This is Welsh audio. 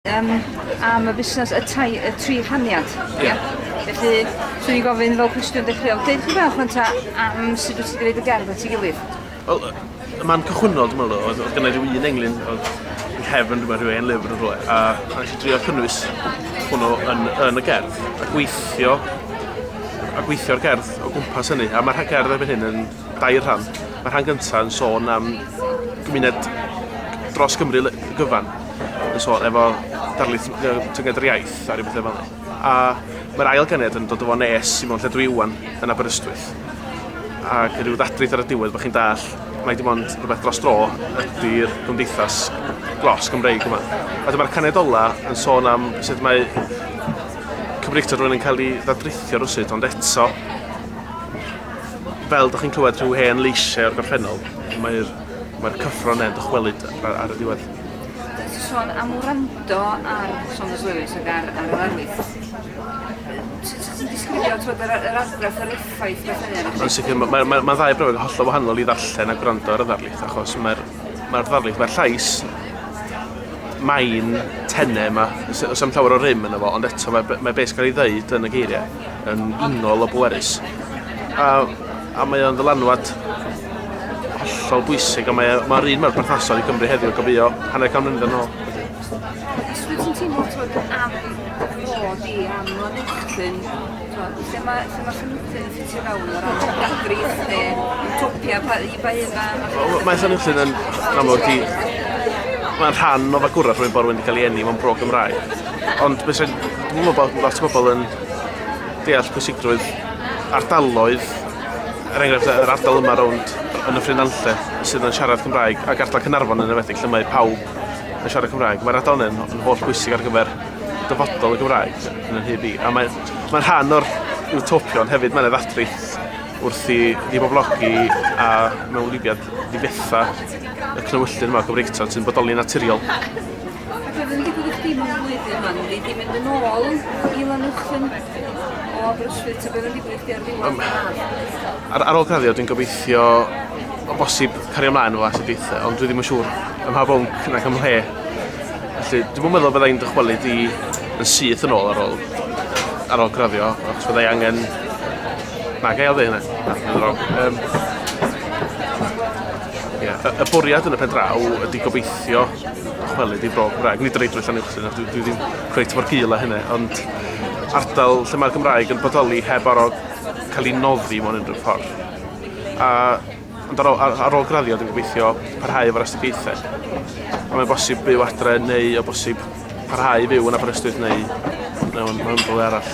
Yym, am y busnes, y tai, y tri rhaniad. Ie. Felly, swn i'n gofyn fel cwestiwn dechreuol, deud chi bach rwan ta am sut wyt ti wedi gwneud y gerdd at ei gilydd? Wel, y man cychwynnol, dwi'n meddwl, oedd, oedd gynnu rhyw un englyn, oedd yn cefn rhywbeth rhyw ein lyfr yn rhywle, a, a nes i drio cynnwys hwnnw yn, yn y gerdd, a gweithio a gweithio'r gerdd o gwmpas hynny, a mae'r gerdd erbyn hyn yn dair rhan. Mae rhan gyntaf yn sôn am gymuned dros Gymru gyfan, yn sôn efo darlith tynged yr iaith a rhywbeth efo ni. A mae'r ail ganed yn dod o fo nes i mewn lle dwi iwan yn Aberystwyth. Ac rhyw ddadrith ar y diwedd bod chi'n dall, mae dim ond rhywbeth dros dro ydy'r gymdeithas glos Gymreig yma. A dyma'r caned ola yn sôn am sut mae Cymreictod rwy'n yn cael ei ddadrithio rhywsut, ond eto fel dych chi'n clywed rhyw hen leisiau o'r gorffennol, mae'r mae cyffro yna'n dychwelyd ar, ar y diwedd. Sôn am wrando ar Thomas Lewis ac ar, ar yr arwydd. Sut ti'n disgrifio twyd, yr, yr argraff yr effaith beth yna? Yn sicr, mae ma, ma, ma ddau brofeg hollol wahanol i ddarllen a gwrando ar y ddarlith, achos mae'r ma ddarlith, mae'r llais mae'n tenne yma, os am llawer o rym yna fo, ond eto mae, mae beth gael ei ddeud yn y geiriau. yn unol o bwerus. A, a mae o'n ddylanwad hollol bwysig, a mae'r mae un mae'r perthnasol i Gymru heddiw, gofio, hanner can mlynedd yn ôl. Os wyt ti'n teimlo bod yn adeg bod i am lanetyn, lle mae, lle mae Llynwtyn yn ffitio fewn o'r adegri, lle topia pa, i ba un mae... Mae Llynwtyn yn amlwg i... Mae'n rhan o fagwraeth rwy'n bod rwy'n cael ei enni mewn bro Gymraeg. Ond bys yn gwybod bod lot o bobl yn deall pwysigrwydd ardaloedd, er enghraifft yr ardal yma rownd yn y Ffrinanlle sydd yn siarad Cymraeg ac ardal Cynarfon yn enwedig lle mae pawb yn siarad Cymraeg. Mae'r ardal yn, yn holl bwysig ar gyfer dyfodol y Gymraeg yn y hyb i. A mae'n mae rhan o'r utopion hefyd, mae'n eddadri wrth i ddiboblogi a mewn libiad ddifetha y clywyllyn yma o Gymreigtod sy'n bodoli naturiol. Ac oedd yn digwydd i chdi mewn blwyddyn ma, neu di mynd yn ôl i Lanuwchllyn o Aberystwyth, ta beth oedd yn digwydd i chdi ar ddiwedd y haf? Ar, ar ôl graddio, dwi'n gobeithio o bosib cario ymlaen efo astudiaethau, ond dwi ddim yn siŵr ym mha bwnc nac ym mhle. Felly, dwi'n yn meddwl byddai'n dychwelyd i yn syth yn ôl ar ôl, ar ôl graddio, achos byddai angen... Na, gael dde hynna. Na, dwi'n wrong. Um, Ie, y, y bwriad yn y pen draw ydy gobeithio chwelyd i fro Cymraeg. Nid yr eidrwydd llan uwch sy'n dwi, dwi ddim cweit mor gil â hynny, ond ardal lle mae'r Gymraeg yn bodoli heb aro cael ei noddi mewn unrhyw ffordd. A, ond ar ôl, ar, ar ôl graddio, dwi'n gobeithio parhau efo'r astudiaethau. A mae'n bosib byw adre neu o bosib parhau i fyw yn Aberystwyth neu mewn, mewn rhywle arall.